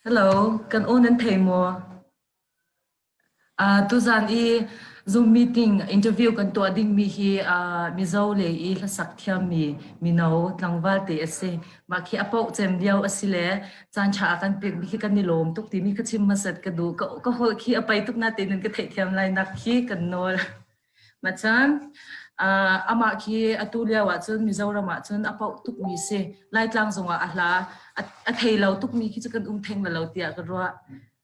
Hello, kan aw nan thei maw? Uh, tuzan i Zoom meeting interview kan tuah dingmi hi uh, Mizo le i hlasak thiammi mino tlangval te a si. Mah khi a pauh cem lio a si le caan ṭha a kan pekmi khi kan i lawm tuk timi ka chim masat ka duh. Ka, ka holh khi a pai tuk na tein ka theih thiam lai nak khi kan nawl. Machan amah khi atu lio ahcun Mizoram ahcun a pauh tukmi si Laitlang zongah a hla a thei lo tukmi khi cu kan um theng lo tiah ka ruah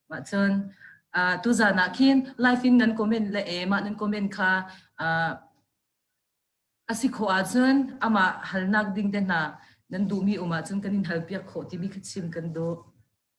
macun tuzan ah khin live in nan comment le e mah nan comment kha asi kho ahcun amah halnak ding te hna nan duhmi um ahcun kan in hal piak khawh timi kha chim kan duh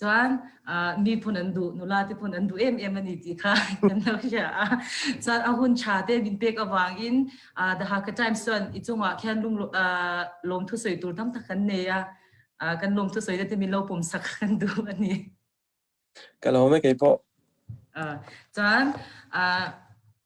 Cun miphun an duh nula te phun an duh em em ani ti kha kan lo hria a cun a hun tha te min pek awang in the Hakha Times chuan i chungah khan lung lom thu soi tur tam tak kan nei a kan lom thu soi te min lo pum sak kan du ani ka lo me kei po cun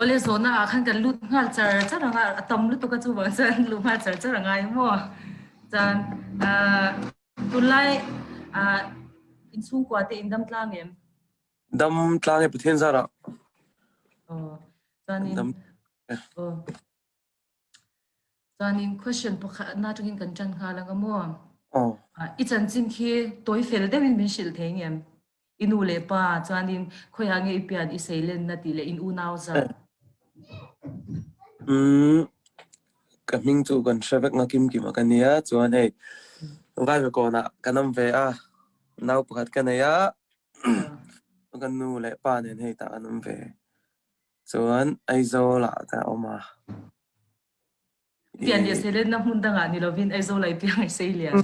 Ole zona ah khan kan lut hngal car car anga a tam lutuk a cu bang cun lu hngal car car a ngai maw. Cun ah tunlai ah inchungkua te in dam tlang em? Dam tlang e Pathian zarah. Oh, cun in Dam. oh. Caan in question pakhat na tangin kan ṭan hnga lang a maw? I chanchin khi tawifel deuhin min hrilh thei ngem? I nu le pa caan in khoiah nge i pian i seilen na ti le in unau zat? Ka hming cu kan hre vek nakimkim a ka nia. Chuan hei, vai ve kawnah ka nam ve a. Nau pakhat ka nei a. Kan nu le pa nen hei ta ka nam ve. Cun Aizawl ah dah a um a? Tian nih a sei len na hmun dang ah ni lo in Aizawl ai tiang ai sei lian.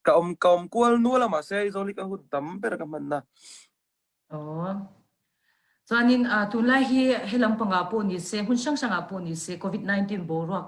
Ka um ka um kual nu lam ah se Aizawl i ka hut tam ber ka hman na. Oh. Chuanin uh, tunlai hi helam panga po ni se hun sang sang a po ni se COVID-19 bo ruak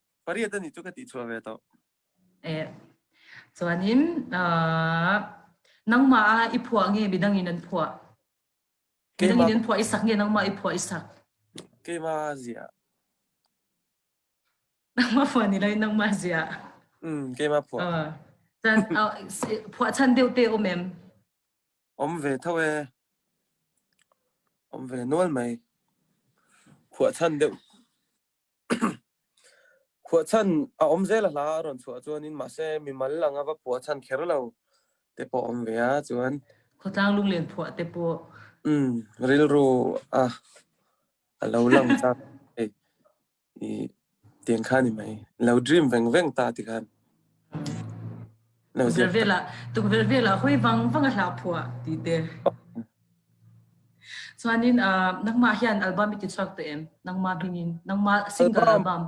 pariat an i cu ka ti chua ve to eh chuanin nangma ah i phua nge bidang in an phua bidang in an phua isak nge nangma i phua isak keima zia nangma phua ni lai nangma zia mm keima phua chan phua chan deu te om em om ve thawe om ve nual mai phua chan deu Khuachan a om zel a hla a rawn chuah ahcun mahse mimal ang a va phuah chan kher lo te pawh a om ve ah cun khuatlang lunglen phuah te pawh um rilru a a lo lang cang i tiang khan i mei lo dream vengveng ta ti khan. Lo Tuk vel ziak. vel ah tuk vel vel ah hoi bang bang a hla phua ti te. Chuanin uh, nangma hian album iti chuak to em? Nangma bingin, nangma single album.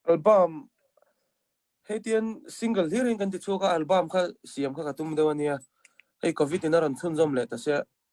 Album heitian single hirin kan ti chuka album kha siam kha ka tum deuh ania. Hei covid in a ran chun zom le ta se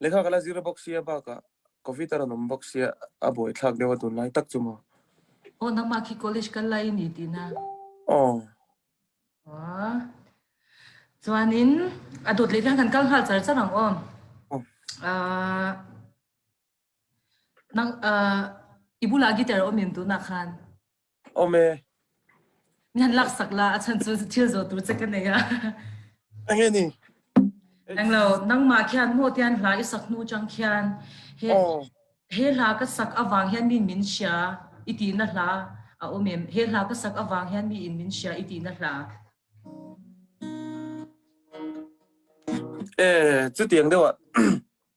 Lekha ka la zir bawk sia bakah Covid a ran um bawk sia a buai thlak deuh a dun lai tak chu maw. Oh nangmah khi college kal lai ni ti na. Oh. Oh. Chuan in a dut le kan kal hal char charang om. Oh. Uh, nang uh, ibula gitar om in tu na khan. Nan laksak la a chan cu thil zawtu che ka nei a. Angeni. Englo nangma khian mo tian hla i sak nu chang khian he he hla ka sak avang hian min min sia i ti na hla a umem he hla ka sak avang hian mi in min sia i ti na hla Eh, chu tiang deuh ah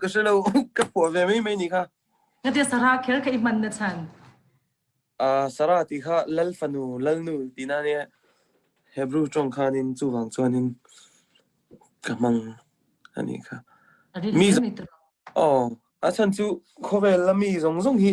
ka si lo ka phuah ve mai mai ni kha Ngate Sara khel ka i hman na chan. uh, Sara ti kha lal fanu lalnu tina ne Hebrew trawng khan in chu wang chuan in ka mang ani kha Adi Mi- mi to. oh a chan chu khawvel lami zong zong hi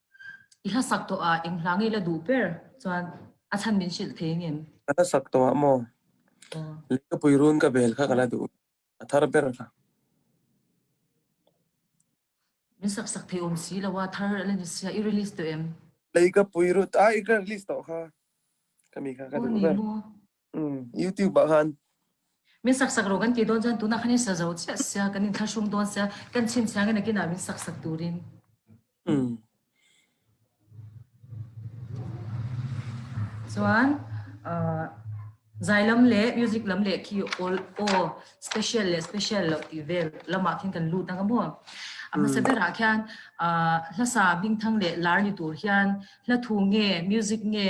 i hlasak to ah ing hlangi la duh per chuan a chan min sil the ngem a hlasak to ah mo le ka pui run ka bel kha kala duh a thar ber kha min sak sak the om si lawa thar la ni sia i release to em le ka pui ru ta i ka release to kha kami kha ka duh ber YouTube ah khan min saksak ro kan ti don jan tuna khani sa zo sia sia kan in thlashung don sia kan chin chiang in kina min saksak turin mm chuan zai lam le music lam le ki all all special le special lo ti vel lama khin kan lut nga mo ama sa bera khian hlasa bingthang le lar ni tur hian hla thu nge music nge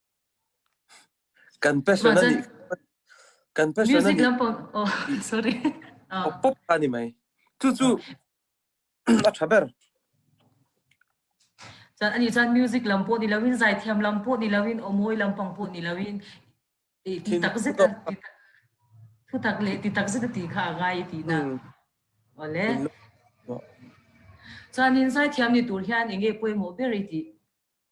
Kan personal nih kan personal nih pop ani mai. Cucu a tha ber. Chan ani chan music lam pawh ni loin zaithiam lam pawh ni loin omawi lampang pawh ni loin ti tak zet thu tak le ti tak zet ti kha gai ti na. Ole. Chan in zaithiam ni tur hian enge poi mo ber ti.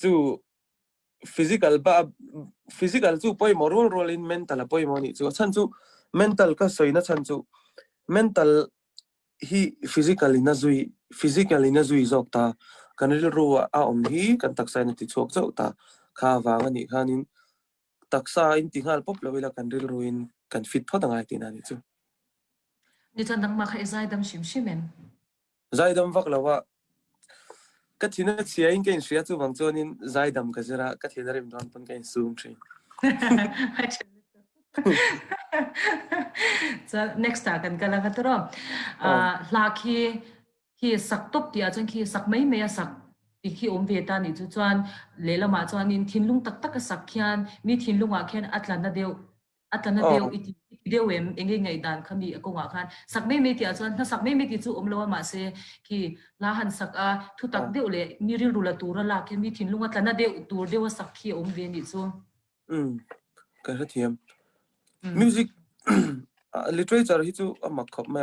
Cu physical cu poimawh rualrual in mental a poimawh nih cu a chan cu mental ka soi na chan cu mental hi physical in a zui, physical in a zui zawk ta. Kan rilru ah a um hi kan taksa in a ti chuak zau ta. Kha vang a nih khan in. taksa in ti ngal pop lo ila kan rilru in kan fit phot ngai tina ni chu ni chan dang ma khai zai dam shim shim en zai dam vak lo wa ka thin a chia in kain shia chu wang chonin zai dam ka jira ka thin a rim don pon kain sum thin so next ta kan kala katro a hla khi khi sak tuk ti ahcun khi sak mai mai a sak ti khi um ve ta nih cu cun lehlam ah cun in thinlung taktak a sak khian mi thinlung ah khin a tlan na deuh a tlan na deuh i ti deuh em enge ngai dan kha mi a kong ah khan sak mai mai ti ahcun na sak mai mai ti cu um lo ma se khi la han sak a thu tak deuh le mi rilru la tur a lak khian mi thinlung a tlan na deuh tur deuh a sak khi um ve ni cu mm kan ra thiam music literature hi chu a mak khop ma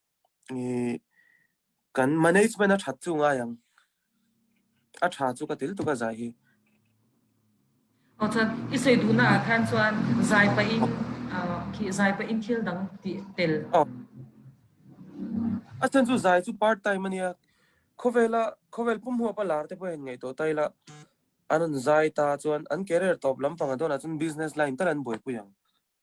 kan management a ṭhat cu ngai ang. A ṭha cu ka til tuk a zai hi. Ochan i soi duhnak ah khan chuan zai pah in khi zai pah in thil dang ti tel. A chan cu zai cu part time ani a. Khawela khawel pum hua pa lar te po hen ngai to tai la anan zai ta chuan an career top lam fanga don ah chun business line tal an buai pui ang.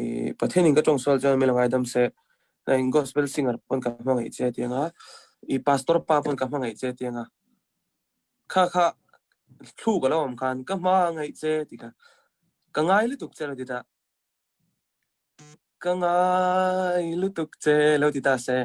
i Pathian in ka ṭong sual cun mila ngaidam seh. In gospel singer pon ka hmangaih cia tiang ah, i pastor pa pon ka hmangaih cia tiang ah, kha kha thlu ka lo am khan ka hmangaih cia ti ka, ka ngai lu tuk cia lo ti dah. Ka ngai lu tuk cia lo ti dah seh.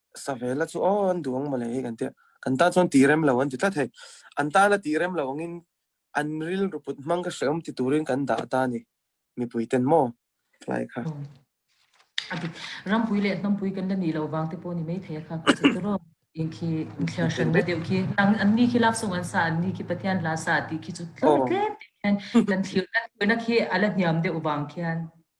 Savela cu aw an duang male kan ti. Kan ta chuan ti rem lo an ti tlat hei. An ta la ti rem lo angin an ril ruput mang ka hreum ti turin kan dah ta ni. Mipui ten mo. Lai kha. Adi rampui le hnampui kan la ni lo wang te po ni mai thei kha ku se tro in khi thliar shan na deu khi nang an ni khi lak sung an sa an ni khi pathian la sa ti khi chu tlo te te kan thil kan na khi ala hniam de wang khian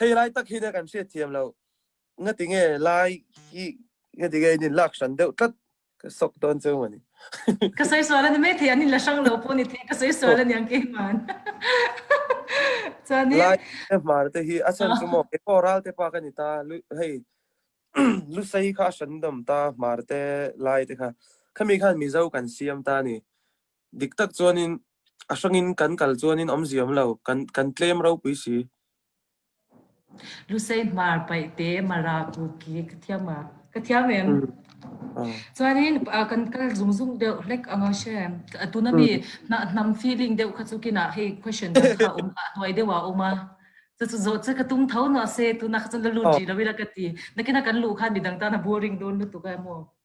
hei lai tak hi na kan hriat thiam lo nga tinge lai hi nga tinge ni lak shan deuh tlat ka sok ton cheu mani ka sai suala na me thei anin la sang lo po ni the ka sai suala niang ke man chani lai te mar te hi achan chu mo ke ko ral te pa ka ni ta lu hei lu sai kha shan dom ta mar te lai te kha khami khan mizo kan siam ta ni diktak chuan in a hrang in kan kal chuan in om ziam lo kan kan tlem ro pui si lusei hmar pai te mara ku ki ka thiam a ka thiam em chuan in kan kal zung zung deuh lek anga she atuna mi na nam feeling deuh kha chu kina hei question kha um noi deuwa uma chu zo che ka tung thau no se tuna kha chu la lu ji lo ila ka ti nakina kan lu khan midang ta na boring don lu tu ka mo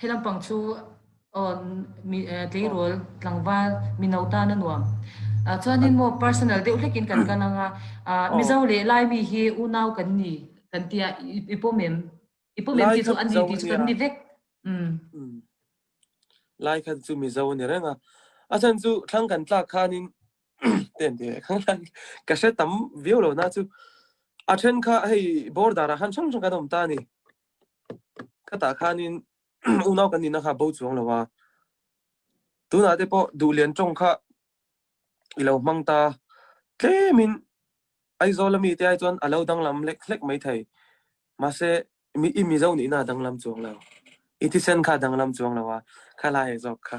Hi lampang cu tleirawl, tlangval, mino ta na nuam. Cun hin maw personal deuh hlekin kan kal ang a. Mizo le Laimi hi unau kan ni kan tia i pom em? I pom em ti cu an ni ti cu kan ni vek. Lai khan cu Mizo ni renga. A chan cu thlang kan tlak khanin ten te khang thlang ka hre tam viau lo na cu. A then kha hei bordar a han chang chang kan om ta ni. Khata khan in unau kan nih na kha bo chuang lo a. Tunah te pawh duh lian trong kha i lo hmang ta. Tlemin Aizawl ami te ai chuan a lo danglam lek lek mai thei. Mase mi i mizo nih na danglam chuang lo. I thisen kha danglam chuang lo a. Kha lai zok kha.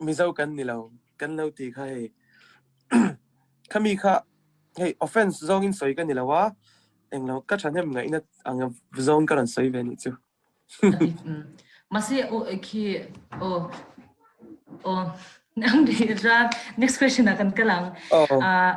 Mizo kan ni lo. Kan lo ti kha hei khami kha hei offense zong in soi kan ni lo a. Eng lo ka ṭhahnem ngaihna ang zong ka ran soi ve nih cu. Masi o khi o o nang di ra next question a kan kalang. Oh. Uh,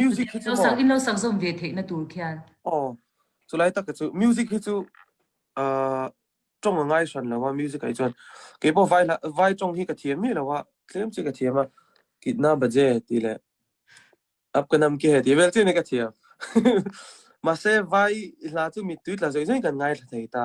Music hi cu maw Innlo sang innlo sang zong ve theih na tur khian. aw cu lai tak cu music hi cu uh, tong a ngai shan lo a music ai chuan ke po vai la vai tong hi ka thiam mi lo a tlem chi ka thiam a kitna baje ti le ap ka nam ke he ti vel chi ne ka thiam ma se vai i hla chu mi tuit la zoi zoi kan ngai thei ta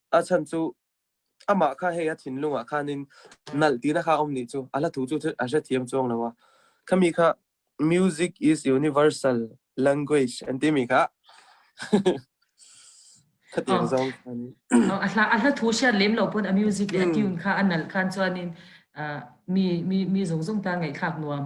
a chan cu amah kha hei a thinlung ah khan in nalh tina kha om ni cu ala thu chu a hre thiam chuang lo a khami kha music is universal language an timi kha khatiang zong a hla a hla thu siat lem lo pun a music le a tune kha a nal khan chuan in mi mi mi zong zong ta ngai khak nuam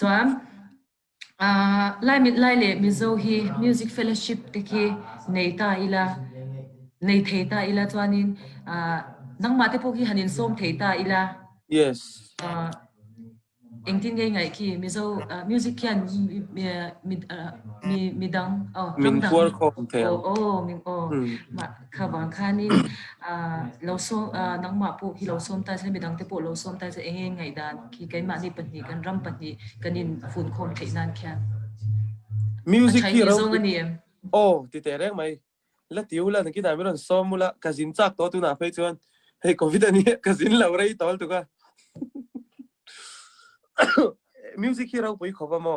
Cun Lai le Mizo hi music fellowship te khi nei ta ila, nei thei ta ila chuanin nangmah te pawh hi han in sawm thei ta ila. Yes. Engtin nge ngai khi Mizo music hian mi dang ramdang. Min phuar khawm thei. Oh, oh, kha bang khanin lo som nangmah pu hi lo som ta se midang te pu lo som ta se eng ngai dan khi keimah ni pahnih kan ram pahnih kan in fun khom thei nan kha music hi ro oh ti te reng mai la tiu la ki da mi ron som mula ka zin chak to tu na phei chuan hei covid ani ka zin lo rei tol tu ka music hi ro pui khoba mo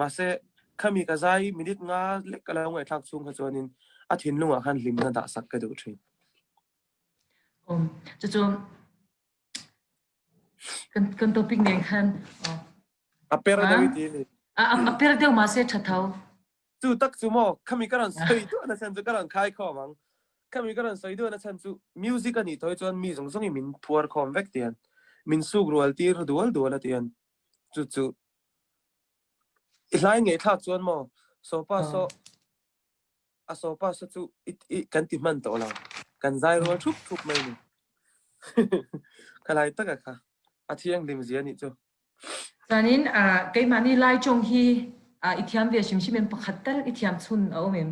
mahse khami ka zai minute nga lek ka lo ngai thak chung kha chuanin a thinlung ah khan hlim na dah sak ka duh thin um cucu kan kan topic nen khan a per da wi ti a a per deu ma se thatau chu tak chu mo khami karan soi tu na san chu karan khai kho mang khami karan soi tu na san chu music ani toi chuan mi zong zong i min phuar khom vek tian min suk rual tir dual dual atian chu chu I hlai ngeithlak cuan maw, sopa sawh, a sopa sawh cu kan ti hman to lo. Kan zai rual thup thup mai ni. Kalai taka kha. A thiang dim zia nih cu. Sanin keimah nih lai cung hi i thiam ve hrimhrim in pakhat tal i thiam chun a um em?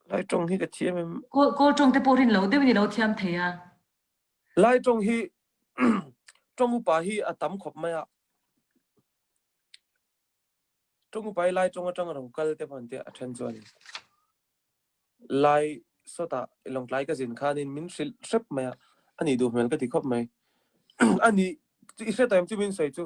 Lai cung hi ka thiam em? Kawl cung te porin lo deuh ni lo thiam thei a. Lai tong hi tong upa hi a tam khop mai ah tong upa lai tong atang ro kal te pan te a then chuan lai sota long tlai ka zin khanin min sil sep mai ani du hmel ka ti khop mai ani ti hre taim chu min sai chu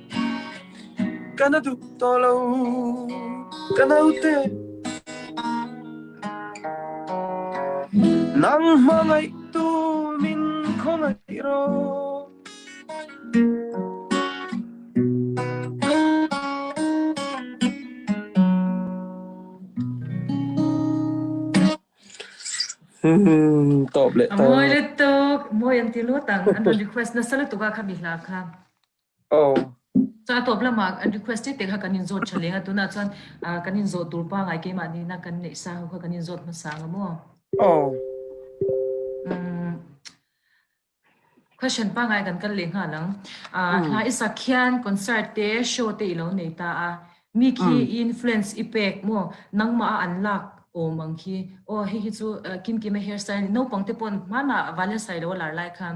Kan a dup to lo, ka no te. Nang mangay tu min kongay ro. Hmm, top le to. Mawi le tuk, mawi anti lo tang, an request na sala tuka kami hla kha. Catawp lamah an request te kha kan in zawt tha leng a tunah chuan kan in zawt tur pa ngai keimah nihna kan neih sa ho kha kan in zawt hmasa nga maw. Question pa ngai kan kal le nga lang. Hla isa khian concert te show te ilo nei ta a mi khi influence ipek mo nangma an lak o mang khi o hi hi chu kim kim hairstyle no pang te pon mana valence lai lo lar lai khan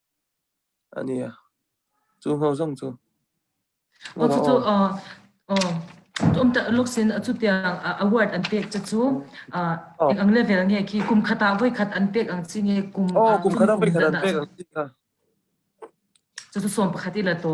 Cu hno zong cu. Cucu tumta uluk sin acutiang a word an pek cu cu ang level nge ki kum khat ah voi khat an pek ang si nge kum kum khat an pek an pek ang si ka. Cucu som pakhat ila to.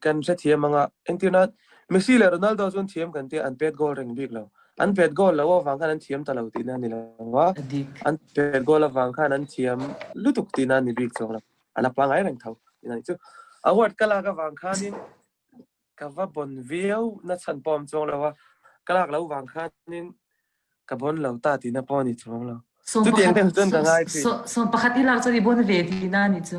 kan se thiam anga engtina Messi le Ronaldo chun thiam kan te an pet goal ring bik lo an pet goal lo wang khan an thiam ta lo ti na ni lo wa an pet goal wang khan an thiam lutuk ti na ni bik chong lo ala pa ngai reng thau ina chu award kala ka wang khan in ka va bon viau na chan pom chong lo wa kalak lo wang khan in ka bon lo ta ti na po ni chong lo tu tiang ten chun ka ngai phi som pakhat ilak cho di bon ve ti na ni chu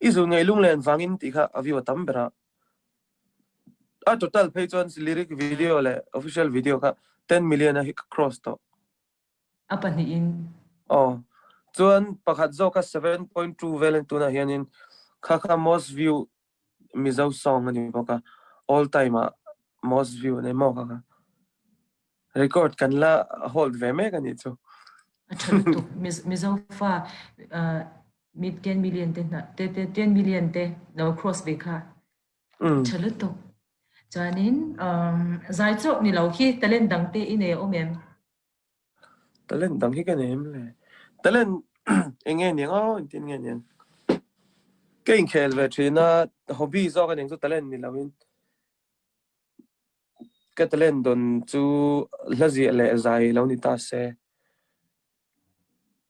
Izu ngei lunglen vangin ti kha a view a tam ber ah. A total phei chuan si lyric video le official video kha 10 million a hi cross to. A pahnih in. Oh. Chuan pakhat zawk a 7.2 vel in tuna hianin kha kha most view Mizo sawng an i vok a, all time ah most view an i mawk a ka. Record kan la hold ve mek ani cu. A ṭhat tuk. Mizo fa mit gen million te hna, te te ten million te lo cross ve kha. Ṭhat tuk. Chanin zai chok ni lo khi talent dang te ine om em. Talent dang hi kan em le talent eng nge niang aw in tin nge niang. Ka in khel ve ṭhin a hobby zawk a niang cu talent ni loin ka talent don cu hlazia le zai lo ni ta seh.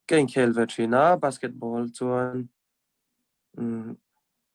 Ka in khel ve ṭhin a basketball cun.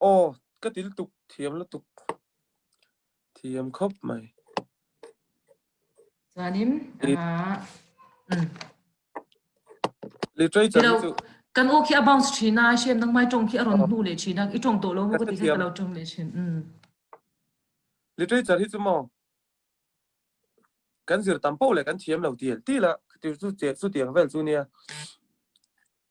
Aw, ka til tuk, thiam la tuk. Thiam khop mai. Zanim, literature cu kan u khi about china shem nang mai tong khi aron hnu le china i tong to lo hu ka ti ka lo tong le chin literature hi chu mo kan zir tam po le kan thiam lo tiel ti la ti su che su tiang vel chu nia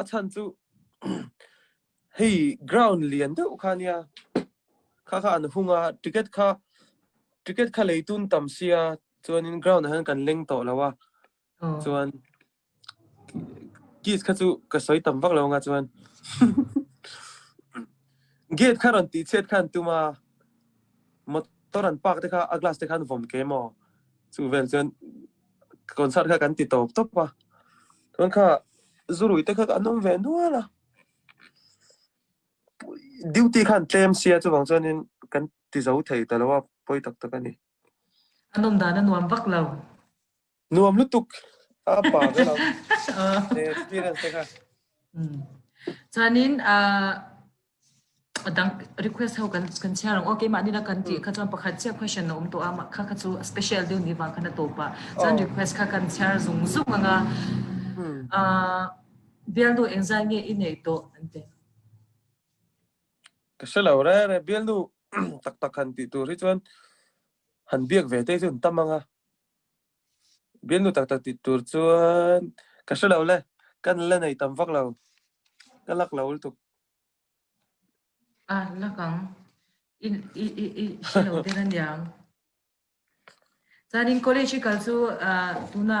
A chan cu hei ground lian deuh kha nia kha kha an hung a ticket kha ticket kha leitun tam sia chuan in ground ah kan leng to lo a chuan keys kha chu ka soi tam vak lo nga chuan gate kha ron ti chet khan tuma motor an park te kha a glass te khan vom ke mo chu vel chuan concert kha kan ti top top a tuan kha zurui te kha an um ve nual a duty khan claim sia chu bang chuan in kan ti zo thei ta lo a poi tak tak ani an um dan a nuam vak lo nuam lu tuk a pa ga lo experience te kha ฉะนั้น A dang request ho kan kan share ang. "Oh, keimah nih na kan ti kha chuan pakhat cia question na um to ah mah kha kha cu a special deuh ni wang khan a to pah. Cun Oh. request kha kan share zung zung ang a. Hmm. Ah, bialnu engzai nge i nei to an ti. Ka si lo re re bial nu taktak han ti tur hi chuan han biak ve te cun tam anga Bia nu taktak ti tur cun ka si lo le kan la nei tam fak lo. Ka lak lo tuk. Ah, lakang. In i i i si lo te kan diam. Cun in college i kal cu uh, tuna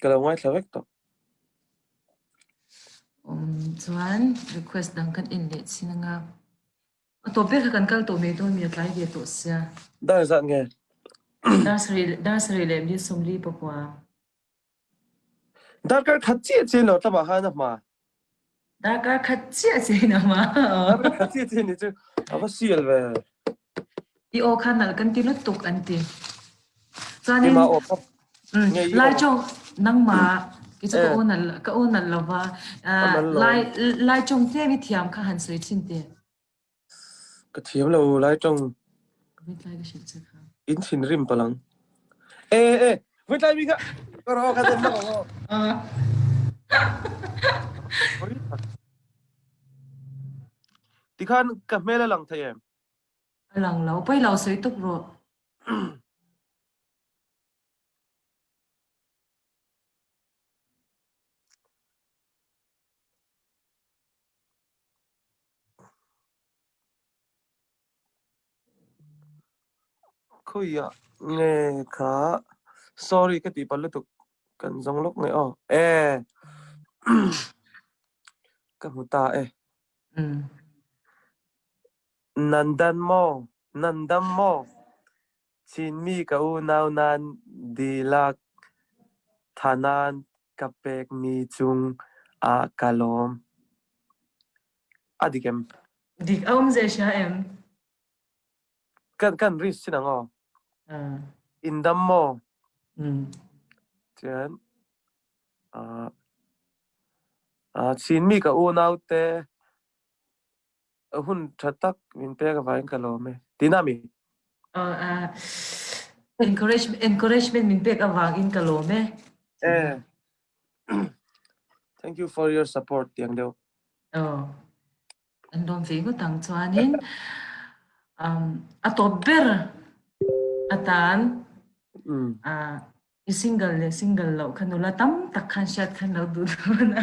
ka lo ngaithla vek tuk. Um, chuan request dang kan in leh chin nga. A topic kan kal to me to mi tlai ve to sia. Da zat nge. Nursery nursery le mi somli pa kwa. Dar kar khat chi chi lo tlaba ha na ma. Dah kaa khat cia cei na ma? Na khat cia cei ni cu a va sial ve. I aw khan al kan ti lu tuk an ti. Cun Ima aw pap. Ngei i Lai aw. cho nangmah ki cu ka Eh. unal ka unal lo va. Ka man lo. Lai Lai chung te mi thiam kha han soi thin te. Ka thiam lo lai ṭang. Inn thinrim palang. Eh eh, voi tlai mi kha ka ro ka zem lo. Ti khan ka hmela lang thai em? Lang lo, poi lo soi tuk ro. Khui ah nge kha sorry ka ti pal lutuk. Kan zong luk nge aw. Eh, ka hmu ta eh. Nandan maw, nandam maw, Chinmi ka unau nan dihlak thanan Ka pekmi cung ah ka lawm. A dik em? Dik a um ze hria em? Kan kan risk sin ngo. Uh, In dam maw? mm, Tian. Uh, uh, Chinmi ka unau te A hun ṭha tak. Min pek a vai in ka lawm e. Ti na mi? Oh, uh, encouragement, encouragement min pek avang in ka lawm e. Eh. Thank you for your support tiang deu. Oh. An dom ve ngu tang chuan in um a top ber atan mm. uh i single le single lo khanula tam tak khan shat khan lo du na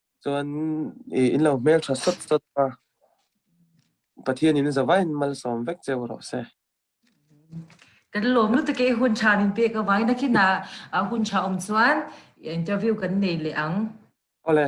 Cun i in lo hmelṭha sawtsawt pa, Pathian in zavai in mal sawm vek cio rawh seh. Kan lawm lu take hun tha nin pe ka wai na kina hun tha om chuan interview kan nei le ang. Ole.